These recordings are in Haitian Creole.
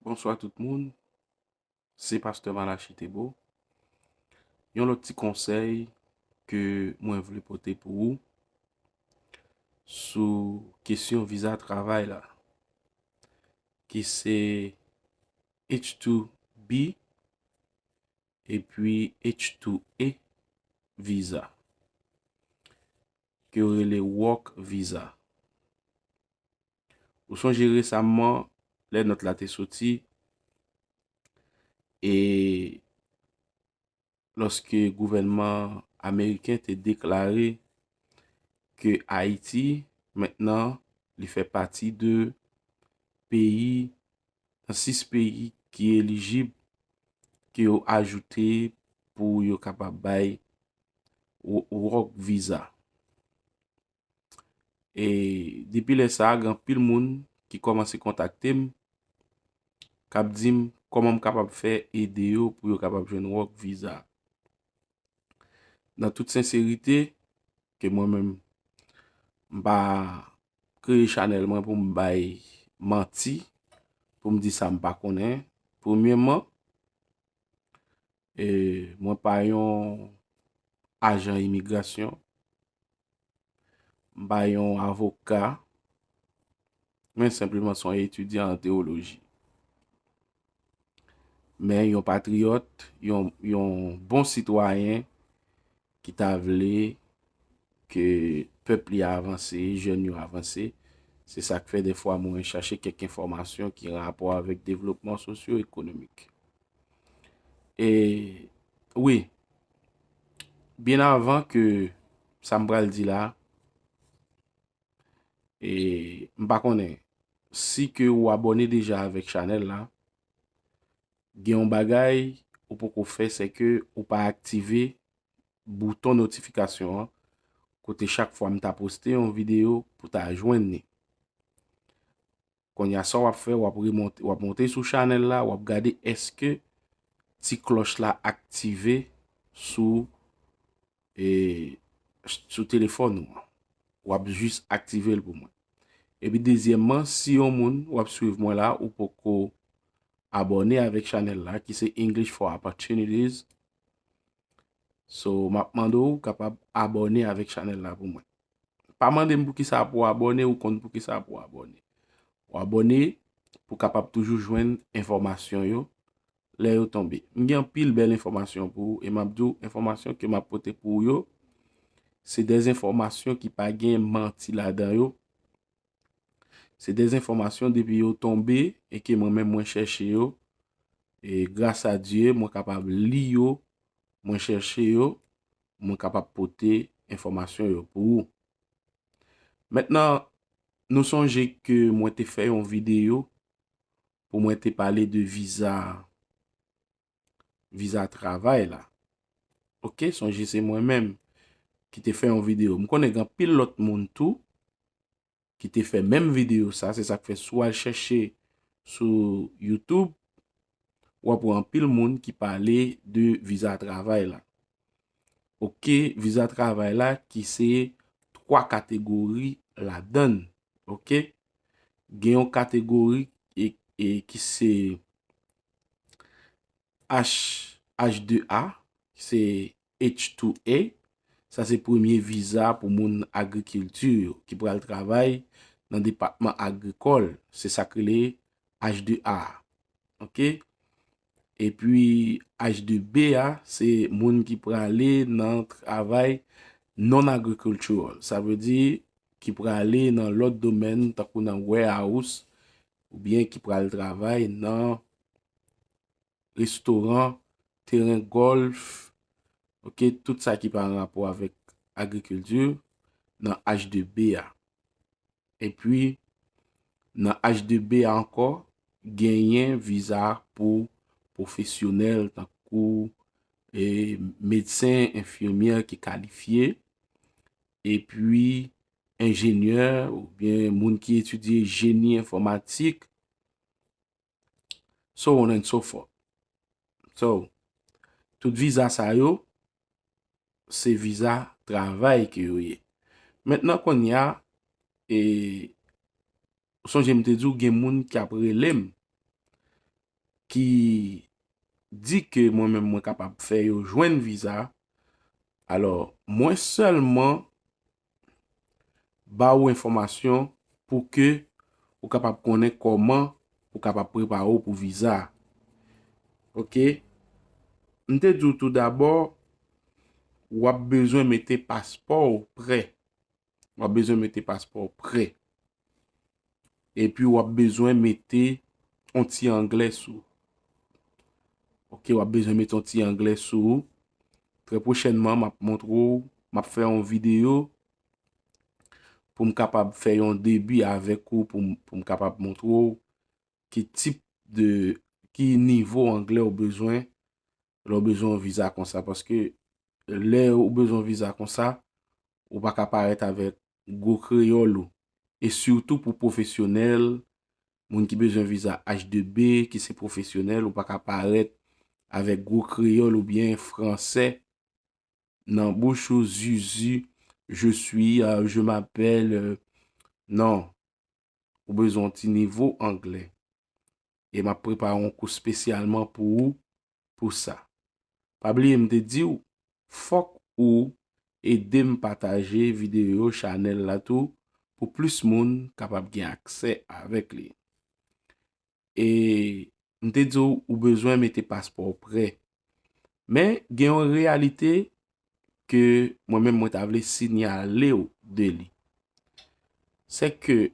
Bonswa tout moun, se pastè Malachi Thébo. Yon lòt ti konsèy ke mwen vle pote pou ou sou kesyon viza travay la ki se H2B epi H2A viza ke yo rele work viza. Ou sonje resamman, lè nòt la te soti, e lòske gouvènman ameriken te deklare ke Ayiti, mentnan, li fè pati de peyi, nan 6 peyi ki elijib, ke yo ajoute pou yo kapab bay work visa. E depi lè sa a gen anpil moun ki kòmanse kontakte m, k ap di m kòman m kapab fè ede yo pou yo kapab jwenn work visa. Nan tout senserite, ke mwen menm m pa kreye chanèl mwen pou m bay manti, pou m di sa m pa konnen. Premyèman, E mwen pa yon ajan imigrasyon. M pa yon avoka. Mwen senpleman son etidyan an teoloji. Men yon patriyòt, yon bon sitwayen ki ta vle ke pèp li avanse, jèn yo avanse, se sak fè dè fwa mwen chache kèk enfòmasyon ki rapò avèk devlopman sosyo ekonomik. E, wi, byen avan ke sa m pral di la, e, m pa konnen, si ke ou abòne deja avèk chanèl la, Gen yon bagay ou poko fè se ke ou pa aktive bouton notifikasyon an kote chak fwa m ta poste yon video pou ta jwenn ni. Konnya sa wap fè wap remonte wap monte sou chanèl la wap gade eske ti klòch la aktive sou e sou telefòn ou an wap jis aktivel pou mwen epi dezyèmman si yon moun wap swiv mwen la ou poko abòne avèk chanèl la ki se English for Opportunities so map mande ou kapab abòne avèk chanèl la pou mwen pa mande m pou ki sa pou abòne ou konn pou ki sa pou abòne ou abòne pou kapab toujou jwenn enfòmasyon yo lè yo tonbe. M gen anpil bèl enfòmasyon pou ou e map di w enfòmasyon ke map pote pou ou yo se de enfòmasyon ki pa gen manti ladan yo. Se de enfòmasyon depi yo tonbe e ke mwen menm mwen chèche yo e gras a Dye mwen kapab li yo, mwen chèche yo, mwen kapab pote enfòmasyon yo pou ou. Mentnan nou sonje ke mwen te fè yon videyo pou mwen te pale de viza viza travay la ok sonje se mwen menm ki te fè yon video m konnen gen pil lot moun tou ki te fè menm video sa se sak fè sou al chèche sou youtube wap wè anpil moun ki pale de viza travay la Ok, viza travay la ki se 3 kategori ladan l. Ok, gen yon kategori e ki se H2A, ki se H2A. Sa se premye viza pou moun agrikilti yo ki pral travay nan depatman agrikòl. Se sa k rele H2A. Ok, E pi H2B a, se moun ki prale nan travay non-agricultural. Sa vle di, ki prale nan lòt domèn, tankou nan warehouse, ou byen ki prale travay nan restoran, teren golf, ok, tout sa ki pa an rapò avèk agriculture, nan H2B a. Epi nan H2B a ankò genyen viza pou pwofesyonèl tankou medsen, enfimyè ki kalifye, epi enjenyè oubyen moun ki etidye jeni enfòmatik. So on and so forth. So, tout viza sa yo, se viza travay ke yo ye. Mentnan kounye a, e, ou sonje m te di w gen moun ki ap rele m, ki di ke mwen menm mwen kapab fè yo jwenn viza, alò, mwen sèlman, ba ou enfòmasyon pou ke ou kapab konnen kòman ou kapab prepare ou pou viza a. Ok. M te di ou tou dabò, w ap bezwen mete paspò ou prè. W ap bezwen mete paspò ou prè. epi wap bezwen mete yon ti angle sou ok wap bezwen mete yon ti angle sou ou trè pwochènman map montre ou map fè yon video poum kapab fè yon debi avèk ou poum kapab montre ou ki tip de ki nivo angle ou bezwen lè ou bezwen yon viza konsa paske lè ou bezwen yon viza konsa ou pa ka parèt avèk gwo kreyòl ou e sitou pou pwofesyonèl moun ki bezwen viza H2B ki se pwofesyonèl ou pa ka parèt avèk gwo kreyòl oubyen fransè nan bouch ou zuzu je suis je m'appelle nan. ou bezwen yon ti nivo anglè. E map prepare yon kou spesyalman pou ou pou sa. Pa bliye m te diw fok ou edem pataje video chanel la tou pou plis moun kapab gen aksè avek li. e m te di w ou bezwen mete paspò w prè. Men gen yon reyalite ke mwen menm mwen ta vle sinyale w de li. Se ke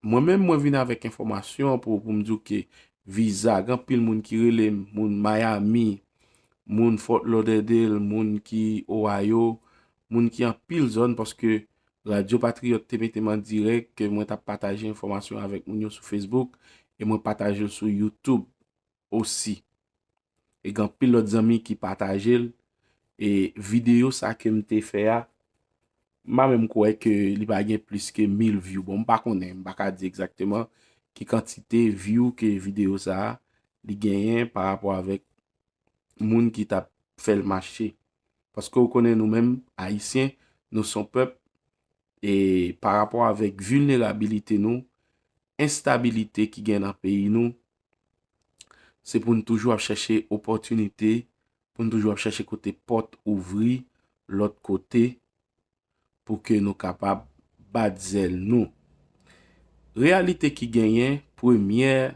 mwen menm mwen vin avèk enfòmasyon pou m di w ke viza gen pil moun ki rele m moun Miami, moun Fort Lauderdale, moun ki Ohio, moun ki anpil zòn paske Radyo Patriyòt te mete m an dirèk ke mwen t ap pataje enfòmasyon avèk moun yo sou Facebook e mwen pataje l sou YouTube osi. E gen anpil lòt zanmi ki pataje l e videyo sa ke m te fè a m pa menm kwè ke li pa gen plis ke mil vyou. Bon m pa konnen, m pa ka di egzakteman ki kantite vyou ke videyo sa li genyen parapò avèk moun ki t ap fè l mache. Paske ou konnen nou menm Ayisyen, nou son pèp, e pa rapò avèk vilnerabilite nou, enstabilite ki gen nan peyi nou, se pou n toujou ap chèche opòtinite, pou n toujou ap chèche kote pòt ouvri, lòt kote, pou ke nou kapab bat zèl nou. Reyalite ki genyen, premyè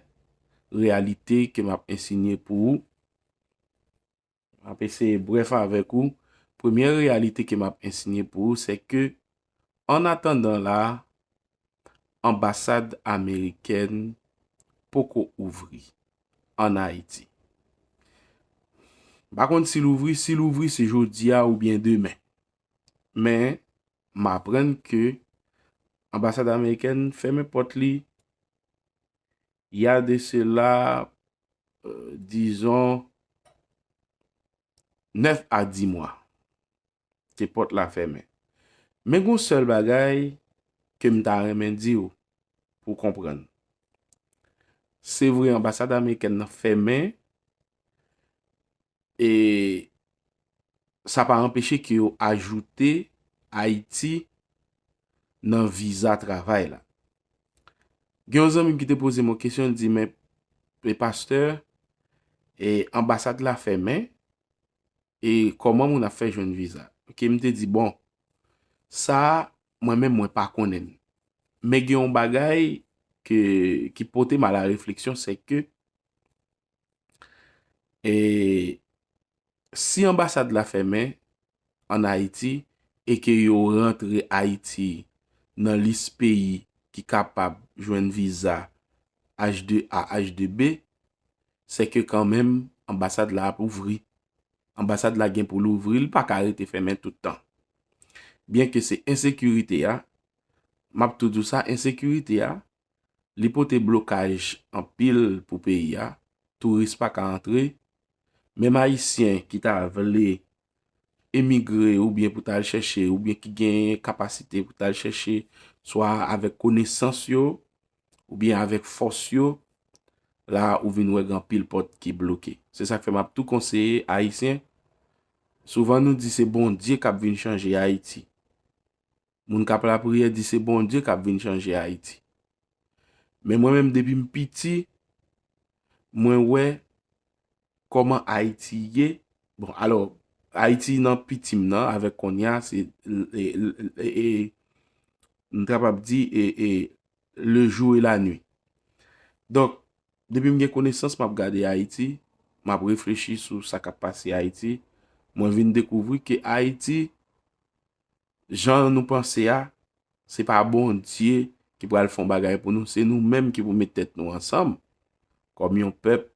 reyalite ke m ap ensinye pou ou, M ap eseye brèf avèk ou. Premyè reyalite ke m ap ensinye pou ou se ke an atandan la a, anbasad amerikèn poko ouvri an Ayiti. M pa konn si l ouvri, si l ouvri se jodi a oubyen demen. Men, m aprann ke anbasad amerikèn fèmen pòt li, ya de sela dizon 9 a 10 mwa, ke pòt la fèmen. Men goun sèl bagay ke m ta renmen di ou pou konprann. Se vre anbasad amerikèn nan fèmen, E sa pa anpeche ke yo ajoute Ayiti nan viza travay la. Gen yon zanmi m ki te poze m yon kesyon, li di men, e pastè, e anbasad la fèmen, e kòman moun ap fè jwenn viza? Ok, m te di bon, sa a, mwen menm mwen pa konnen. Men gen yon bagay ki pote m a la refleksyon, se ke, e si anbasad la fèmen an Ayiti e ke yo rantre Ayiti nan lis peyi ki kapab jwenn viza H2A, H2B, se ke kan menm anbasad la ap ouvri. Anbasad la gen pou l ouvri, li pa ka rete fèmen tout tan. Byen ke se ensekirite a, m ap toujou sa, ensekirite a, Li pote blokaj anpil pou peyi a, touris pa ka antre, menm ayisyen ki ta vle emigre oubyen pou tal chèche oubyen ki gen kapasite pou tal chèche swa avèk konesans yo oubyen avèk fòs yo, la ou vin wè gen anpil pòt ki bloke. Se sak fè map tou konseye ayisyen, souvan nou di se Bondye kap vin chanje Ayiti. Moun kap lapriyè di se Bondye kap vin chanje Ayiti. Men mwen menm depi m piti, mwen wè kòman Ayiti ye, bon alò, Ayiti nan piti m nan avèk konnya se e, m kapab di e, e, le jou e la nwi. Donk, depi m gen konesans map gade Ayiti, map reflechi sou sa kap pase Ayiti, mwen vin dekouvri ke Ayiti, jan nou panse a, se pa Bondye ki pral fè yon bagay pou nou, se nou menm ki pou met tèt nou ansanm, kòm yon pèp,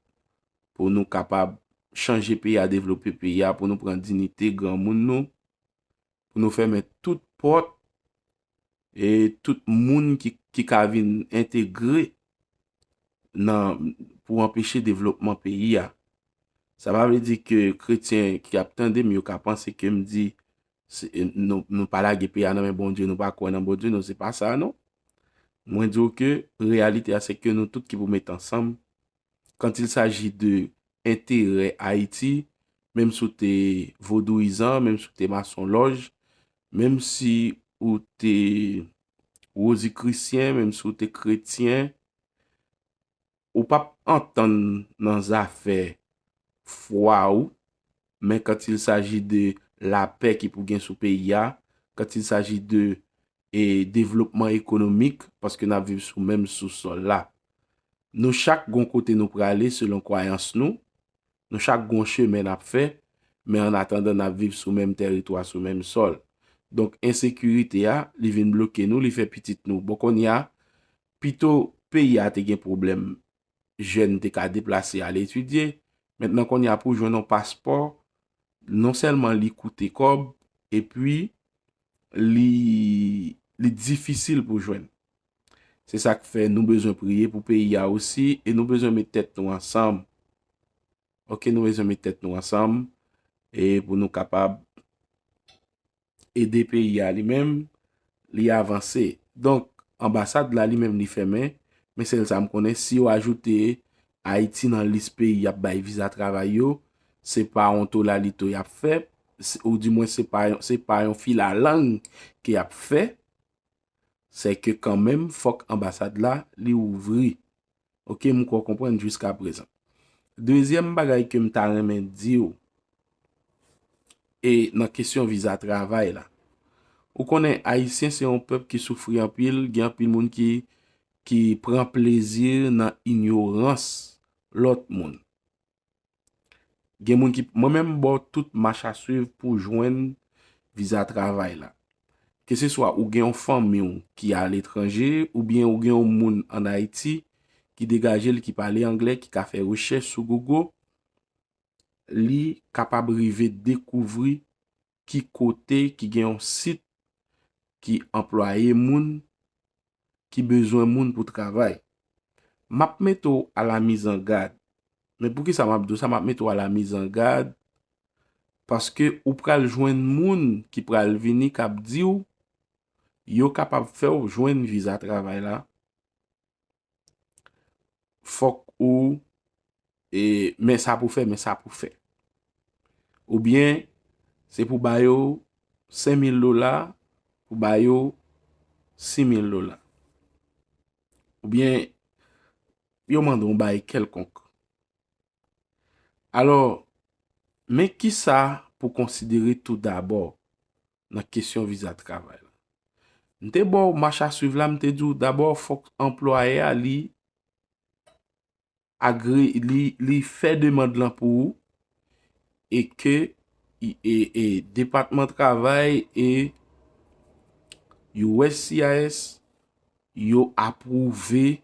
pou nou kapab chanje peyi a, devlope peyi a, pou nou pran dinite granmoun nou, pou nou fèmen tout pòt, e tout moun ki ka vin entegre, nan, pou anpeche devlopman peyi a. Sa pa vle di ke kretyen ki ap tande m yo ka panse ke m di, Nou pa lage peyi a nan men Bondye, nou pa kwè nan Bondye, non se pa sa a non. Mwen di ou ke reyalite a se ke nou tout ki pou met ansanm, kant il saji de enterè Ayiti, menm si ou te vodouyizan, menm si ou te masonlòj, menm si ou te wozikrisyen, menm si ou te kretyen, Ou pap antann nan zafè fwa ou, men quand il s'agit de la pè ki pou gen sou peyi a, quand il s'agit de e devlopman ekonomik, paske nap viv sou menm sou sòl la. Nou chak gon kote nou prale selon kwayans nou, nou chak gon chemen nap fè, men an atandan nap viv sou menm tèritwa, sou menm sòl. Donk ensekirite a, li vin bloke nou, li fè pitit nou. Bon konnya, Pito peyi a te gen pwoblèm jèn te ka deplase al etidye, mentnan kounye a pou jwenn yon paspò non sèlman li koute kòb epi li difisil pou jwenn. Se sa k fè nou bezwen priye pou peyi a osi e nou bezwen met tèt nou ansanm ok nou bezwen met tèt nou ansanm e pou nou kapab. ede peyi a li menm li avanse. Donk, anbasad la li menm li fèmen, men sèl sa m konnen si yo ajoute Ayiti nan lis peyi y ap bay viza travay yo, se pa yon tolalito y ap fè, ou di mwen se pa yon filalang ke y ap fè, se ke kanmenm fòk anbasad la li ouvri. Ok m kwè w konprann jiska prezan. Dezyèm bagay ke m ta renmen di w e nan kesyon viza travay la. Ou konnen Ayisyen se yon pèp ki soufri anpil, gen anpil moun ki ki pran plezi nan inyorans lòt moun. Gen moun ki, mwen menm m ba w tout mach a swiv pou w jwenn viza travay la. Keseswa ou gen yon fanmi w ki aletranje oubyen ou gen yon moun ann Ayiti ki degaje l ki pale angle ki ka fè rechèch sou Google, li kapab rive dekouvri ki kote ki gen yon sit ki anplwaye moun ki bezwen moun pou travay. M ap mete w alamizangad. Men poukisa m ap di w sa? M ap mete w alamizangad paske ou pral jwenn moun ki pral vini k ap di w yo kapab fè w jwenn viza travay la. fòk ou e men sa pou fè, men sa pou fè. Ou byen, se pou ba yo 5.000 dola, pou ba yo 6.000 dola. Ou byen, yo mande yon bay kelkonk. Alo, men ki sa pou konsidere tout dabò. nan kesyon viza travay la. M te ba w mach a swiv la, m te di w dabò fòk anplwayè a li agre, li fè demand lan pou ou e ke depatman travay e uscis yo apwouve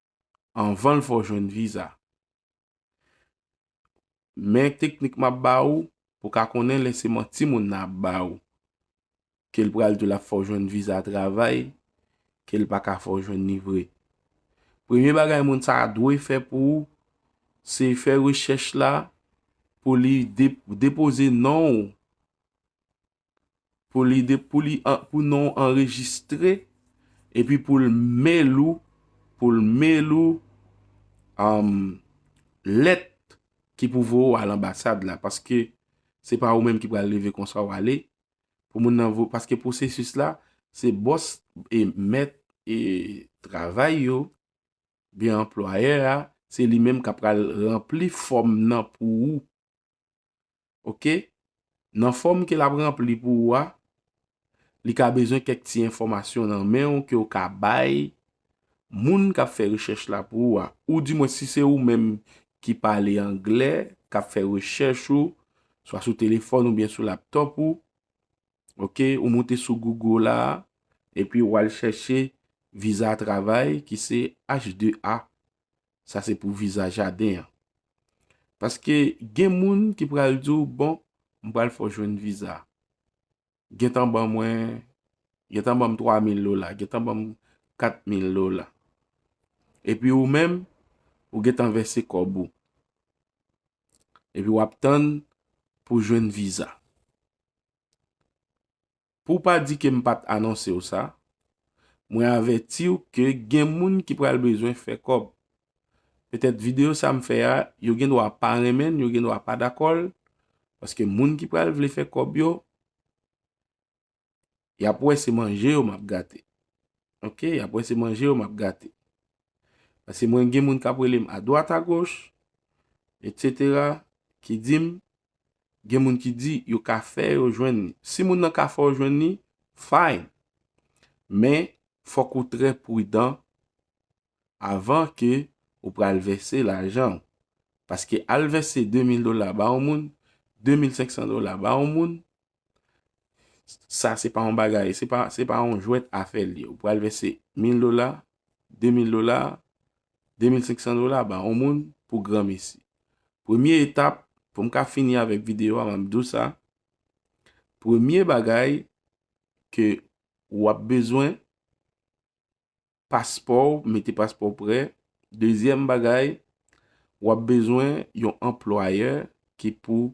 anvanl fè w jwenn viza. Men teknik map ba ou pou ka konnen lè se manti moun nan ap ba ou. Ke l pral di w lap fè w jwenn viza travay, ke l pa ka fè w jwenn li vre. Premye bagay moun sa a dwe fè pou ou, se fè rechèch la pou li depoze non ou pou non w anrejistre, epi pou l mail ou, pou l mail ou lèt ki pou voye w al anbasad la, paske se pa ou menm ki pral leve konsa w ale, pou moun nan voye, paske pwosesis la, se bòs e mèt e travay yo, biye anplwaye a, se li menm ka pral rempli fòm nan pou ou. ok nan fòm ke lap ranpli pou ou a li ka bezwen kèk ti enfòmasyon nan men ou ke ou ka bay moun kap fè rechèch la pou ou a ou di mwen si se ou menm ki pale anglè kap fè rechèch ou swa sou telefòn ou byen sou laptop ou ok ou moute sou google la epi ou al chèche viza travay ki se h2a Sa se pou viza jaden an. Paske gen moun ki pral di w bon m pral fè w jwenn viza. Gen tan ban mwen, gen tan ban m 3000 dola, gen tan ban m 4000 dola. E pi ou menm, ou gen tan vèse kòb ou. E pi w ap tann pou jwenn viza. Pou w pa di ke m pat anonse w sa, mwen avèti w ke gen moun ki pral bezwen fè kòb. Petèt videyo sa m fè a, yo gen dwa pa renmen l, yo gen dwa pa dakò l, paske moun ki pral vle fè kòb yo, y ap wè se manje yo m ap gate. Ok, y ap wè se manje yo m ap gate. Paske mwen gen moun k ap rele m adwat agoch, etsetera, ki di m, Gen moun ki di yo ka fè yo jwenn li. Si moun nan ka fè w jwenn li, fine. Men, fòk ou trè prudan avan ke ou pral vèse lajan ou. Paske al vèse 2000 dola ba yon moun, 2500 dola ba yon moun, sa se pa yon bagay, se pa yon jwèt afè li. Ou pral vèse 1000 dola, 2000 dola, 2500 dola ba yon moun pou gran mesi. Premye etap, pou m ka fini avèk videyo a m ap di w sa, premye bagay ke w ap bezwen, paspò w, mete paspò w prè, dezyèm bagay, w ap bezwen yon anplwayè ki pou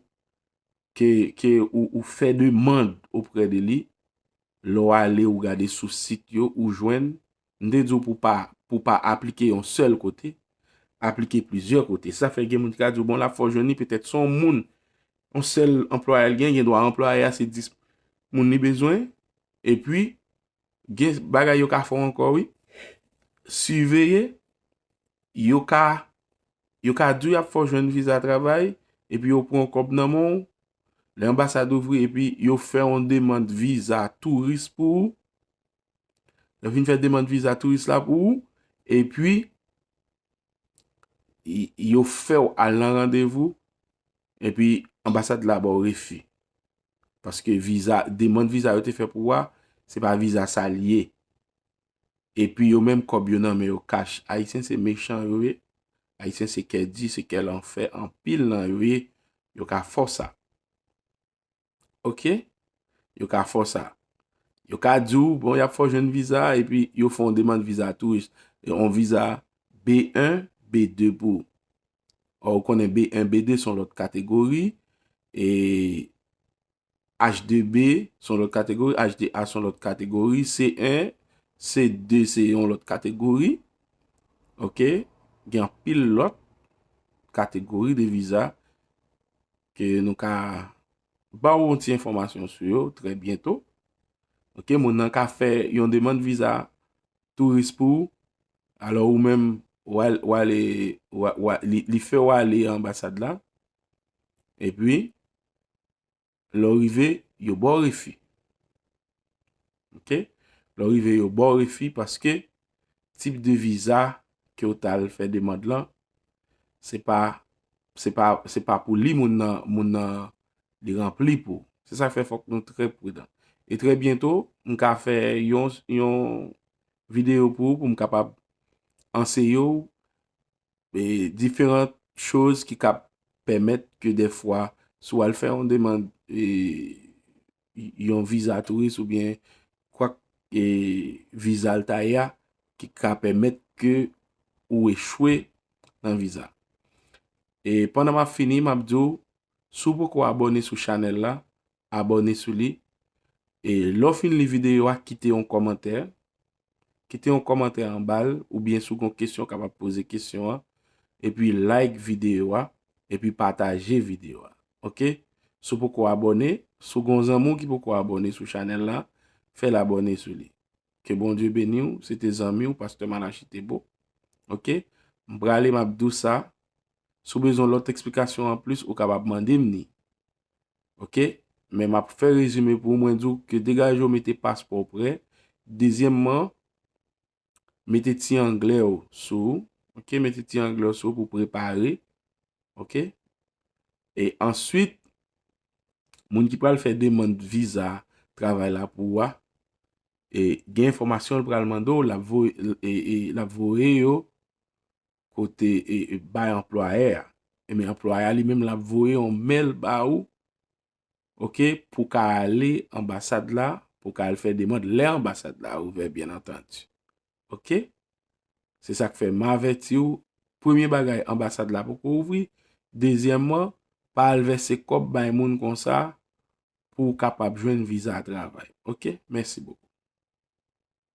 ke ou fè demand oprè de li, lè w ale ou gade sou sit yo ou jwenn, m te di w pou pa pou pa aplike yon sèl kote, aplike plizyè kote. Sa fè gen moun ki ka di w bon la fò w jwenn li petèt se yon moun, yon sèl anplwaye l gen, gen dwa anplwaye a se 10 moun li bezwen, epi gen bagay yo ka fè w ankò wi. Siveye, yo ka, yo ka di w y ap fè w jwenn viza travay, epi yo pran kòb nan men w, lè anbasad ouvri epi yo fè yon demand viza touris pou ou, yo vin fè demand viza touris la pou ou, epi yo fè w al nan randevou, Epi anbasad la ba w refi. Paske viza, demand viza yo te fè pou wa, se pa viza sa li ye. Epi yo menm kòb yo nan men yo kach. Ayisyen se mechan yo ye. Ayisyen se kè di, se kè lanfè anpil nan yo ye. Yo ka fò sa. Ok, yo ka fò sa. Yo ka di ou, bon, y ap fè w jwenn viza, epi yo fè yon demann viza touris. Yon viza B1, B2 pou ou. Ò, ou konnen B1, B2 son lòt kategori, e H2B son lòt kategori, H2A son lòt kategori, C1, C2 se yon lòt kategori. Ok, gen anpil lòt kategori de viza. Ke nou ka ba ou yon ti enfòmasyon sou yo trè byento. Ok, moun nan ka fè yon demand viza touris pou ou. Alò ou menm, li fè ou ale anbasad la. E pi, lè ou rive, yo ba ou refi. Ok, lè w rive yo ba w refi paske tip de viza ke w t al fè demand lan se pa se pa se pa pou li moun nan moun nan li ranpli pou. Se sa k fè fòk nou trè pridan. E trè byento m ka fè yon yon videyo pou ou pou m kapab anseye w e diferant choz ki kab pèmèt ke dèfwa si w al fè yon demand e yon viza touris ou byen kwak e viza l ta ye a ki ka pèmèt ke ou echwe nan viza. E pandan m ap fini m ap di w si w poko abòne sou chanèl la abòne sou li e lè w fin li videyo a kite yon kòmantè Kite yon kòmantè anbal oubyen si w gon kesyon kapab poze kesyon an epi like videyo a epi pataje videyo a ok si w poko abòne si w gon zanmi w ki poko abòne sou chanèl la fè l abòne sou li ke Bondye beni w se te zanmi w pastè Malachi Thébeau ok m prale m ap di w sa si w bezwen lòt eksplikasyon anplis ou kapab mande m ni. ok men map fè rezime pou mwen di w ke degaje w mete paspò w prè dezyèmman mete ti anglè w sou ok mete ti anglè w sou pou prepare ok e answit moun ki pral fè deman viza travay la pou w a e gen enfòmasyon l pral mande w lap voye yo kote e bay anplwayè a. E men anplwayè a li menm lap voye yon mail ba ou. Ok pou ka ale anbasad la pou ka al fè demand lè anbasad la ouvè byen antandi. Ok. Se sak fè ma avèti ou premye bagay anbasad la poko ouvri. Dezyèman pa al vèse kòb bay moun konsa pou kapab jwenn viza travay. Ok. Mèsi bokou.